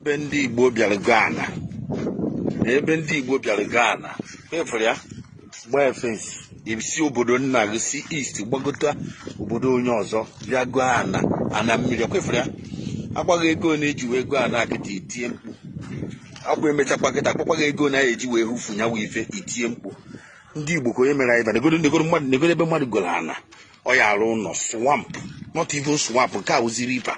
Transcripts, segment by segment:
ebe ndị Igbo bịara goo ana ebe ndị Igbo bịara goo ana efere ya gbaa fence i si obodo nna gị si east gbagota obodo onye ọzọ bịa goo ana ana mmiri ekwefere ya a gwa gị ego na eji wee goo ana a kịta i tie mkpu ọkwa emechakwa kịta a gwakwa gị ego na eji wee hụfu nyawa ife i tie mkpu ndị Igbo ka onye mere anyị negodu negodu mmadụ negodu ebe mmadụ goro ana ọ ya-arụ ụlọ swamp not even swamp nke a wụzi river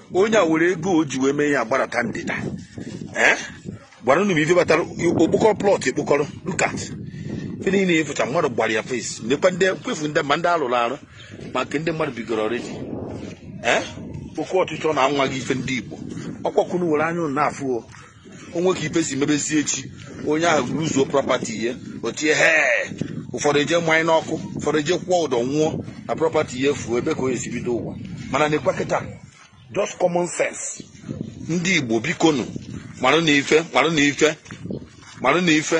onye a were ego o ji wee mee ya gbarata ndịda ee gwara unu m ife batara o kpokọrọ plot e kpokọrọ look at ife niile efucha mmadụ gbara ya fence lekwa ndị mkpefu ndị ma ndị a rụrụ arụ ma nke ndị mmadụ bigoro already ee oke ọchịchọ na amaghị ife ndị igbo ọkwa ka unu were anya unu na-afụ o o nwee ka ife si mebezie echi onye ahụ ruzuo property ihe o tie he ụfọdụ eje manye n'ọkụ ụfọdụ eje kwụọ ụdọ nwụọ na property ihe fuo ebee ka onye si bido ụwa mana nekwa kịta just common sense ndị igbo bikonu marụ na ife marụ na ife marụ na ife